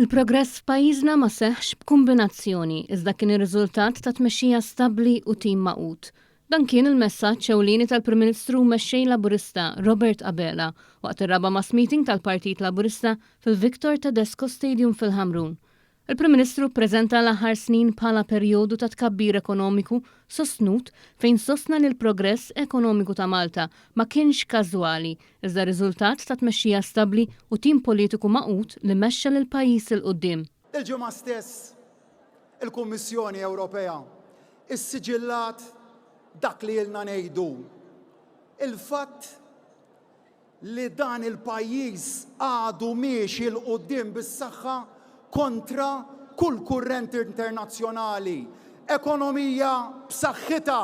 Il-progress f'pajjiżna ma seħħx b'kumbinazzjoni iżda kien ir-riżultat ta' tmexxija stabbli u tim magħqud. Dan kien il-messaġġ ewlieni tal-Prim Ministru u Mexxej Laburista Robert Abela waqt ir-raba' mass meeting tal-Partit Laburista fil-Victor Tedesco Stadium fil-Ħamrun. Il-Prim Ministru ppreżenta l-aħħar snin bħala perjodu ta' tkabbir ekonomiku sostnut fejn sostna li l-progress ekonomiku ta' Malta ma kienx każwali iżda riżultat ta' tmexxija stabbli u tim politiku magħqud li mexxa lill-pajjiż 'il quddiem. Il-Ġimgħa stess il-Kummissjoni Ewropea issiġillat dak li ilna ngħidu, il-fatt li dan il-pajjiż għadu miexi 'l quddiem bis-saħħa kontra kull kurrent internazzjonali, ekonomija b'saħħitha,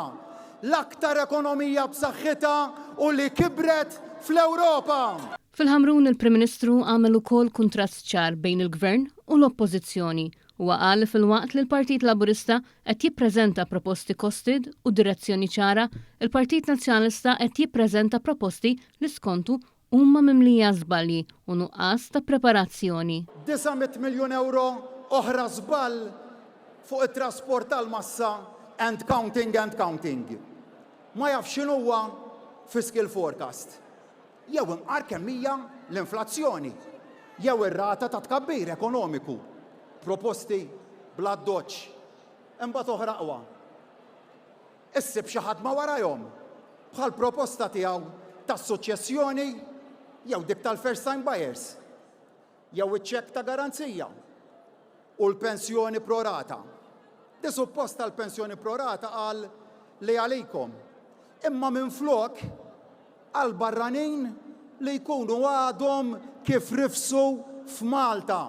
l-aktar ekonomija b'saħħitha u li kibret fl-Ewropa. Fil-Ħamrun il-Prim Ministru għamel ukoll kuntrast ċar bejn il-Gvern u l-Oppożizzjoni. Huwa qal li filwaqt li l-Partit Laburista qed jippreżenta proposti costed u direzzjoni ċara, il-Partit Nazzjonalista qed jippreżenta proposti li skontu huma mimlija żbalji u nuqqas ta' preparazzjoni. 900 miljun ewro oħra żball fuq it-trasport tal-massa and counting and counting. Ma jafx x'inhuwa fiscal forecast. Jew imqar kemm hija l-inflazzjoni. Jew ir-rata ta' tkabbir ekonomiku. Proposti bl-addoċċ. Imbagħad oħra aqwa. issib xi ħadd ma' warajhom, bħall-proposta tiegħu tas-suċċessjoni jew dik tal-first time buyers, jew iċ-ċekk ta' garanzija, u l-pensjoni pro rata. Di suppost tal-pensjoni pro rata qal li għalikom, imma minflok għal barranin li jkunu għadhom kif rifsu f'Malta.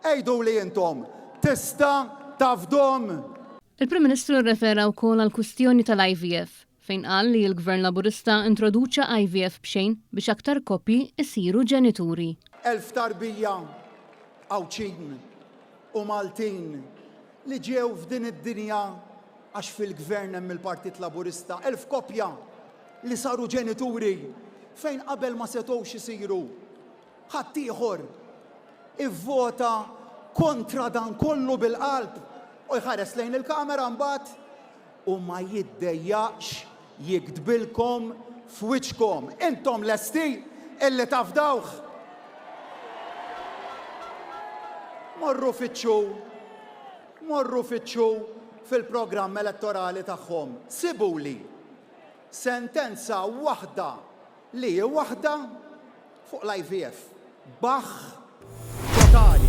Għiduli intom, tista' tafdhom? Il-Prim Ministru rrefera wkoll għall-kwistjoni tal-IVF, fejn qal li l-Gvern Laburista introduċa IVF b'xejn biex aktar koppji jsiru ġenituri. Elf tarbija Għawdxin u Maltin li ġew f'din id-dinja għax fil-Gvern hemm il-Partit Laburista, elf koppja li saru ġenituri fejn qabel ma setgħux isiru. Ħaddieħor ivvota kontra dan kollu bil-qalb u jħares lejn il-kamera mbagħad u ma jiddejjaqx jigdbilkom f'wiċċkom. Intom lesti illi tafdawh? Morru fittxu, morru fittxu fil-programm elettorali tagħhom. Sibuli sentenza waħda li hi waħda Fuq l-IVF. Baħħ totali.